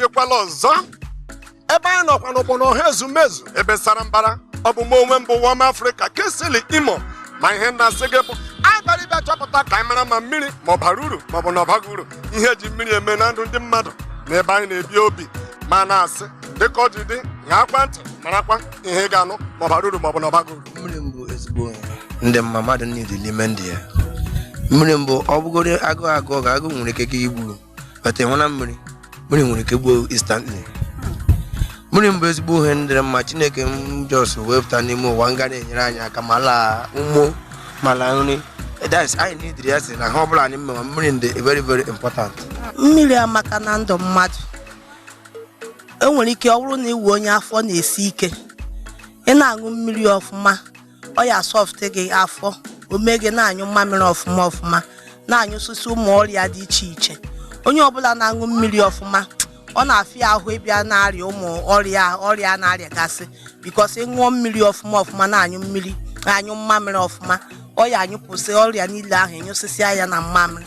echekwala ọzọ ebe anyị nọkwanụ bụ na ọha ezumezu ebe sara mbara ọ bụ m onwe m bụ wọm afrịka kingsley imo ma ihe na-asị gị bụ anyị bịara ịbịa chọpụta ka anyị mara ma mmiri ma ọ bara uru ma ọ bụ na ọ baghị uru ihe eji mmiri eme na ndụ ndị mmadụ na ebe anyị na-ebi obi ma na-asị dịka o ji dị ṅaakwa ntị marakwa ihe ị ga-anụ ma ọ bara uru ma ọ bụ na ọ baghị uru mmiri mbụ ezigbo ihe ndị mma mmadụ need n'ime ndụ ya mmiri mbụ ọ bụgoro agụụ agụụ ga agụụ nwere ike gị igburu but ịṅụna mmiri mmiri nwere ike gbuo instantly mmiri mbụ ezigbo ihe m dịrị mma chineke m just wepụta n'ime ụwa m ga na-enyere anyị aka ma laa ụmụ ma laa nri that's anyị needịrị ya si na ha ọbụla anyị mmewa mmiri dị very very important mmiri amaka na ndụ mmadụ enwere ike ọ bụrụ na ị wụ onye afọ na-esi ike ị na-aṅụ mmiri ọfụma ọ ya soft gị afọ o mee gị na-anyụ mmamịrị ọfụma ọfụma na-anyụsịsị ụmụ ọrịa dị iche iche onye ọbụla na-aṅụ mmiri ọfụma ọ na-afịa ahụ ịbịa na-arịa ụmụ ọrịa ọrịa a na-arịagasị because ị ṅụọ mmiri ọfụma ọfụma na-aṅụ mmiri na-anyụ mmamịrị ọfụma ọ ya anyụpụsị ọrịa niile ahụ nyụsịsịa ya na mmamịrị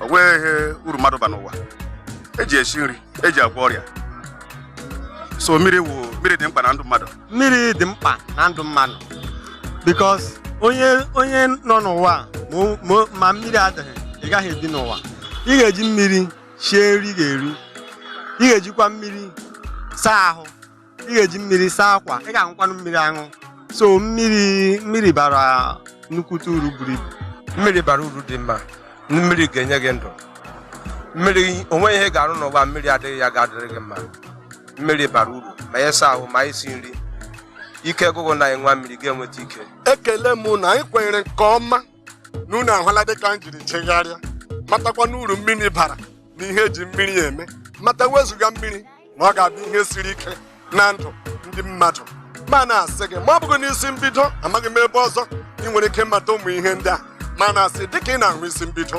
o nweghị ihe uru mmadụ ba n'ụwa eji esi nri eji agwọ ọrịa so mmiri wụ mmiri dị mkpa na ndụ mmadụ mmiri dị mkpa na ndụ mmadụ because onye onye nọ n'ụwa ma o- ma o- ma mmiri adịghị ị gaghị ebi n'ụwa ị ga-eji mmiri sie nri ị ga-eri ị ga-ejikwa mmiri saa ahụ ị ga-eji mmiri saa akwa ị ga-aṅụkwanụ mmiri aṅụ so mmiri mmiri bara nnukwute uru buru ibu mmiri bara uru dị mma mmiri ga-enye gị ndụ mmiri o nwe ihe ị ga-arụ n'ụwa mmiri adịghị ya ga-adịrị gị mma mmiri bara uru ma ịsa ahụ ma isi nri ike gwụ gị na ị ṅụa mmiri ị ga-enweta ike ekele m na anyị kwenyere nke ọma na unu ahụla dịka m jiri jegharịa matakwa na uru mmiri bara na ihe eji mmiri eme mata wezuga mmiri na ọ ga-abụ ihe siri ike na ndụ ndị mmadụ ma na-asị gị ma ọ bụghị n'isi mbido amaghị m ebe ọzọ ị nwere ike mata ụmụ ihe ndị a ma na-asị dịka ị na-ahụ isi mbido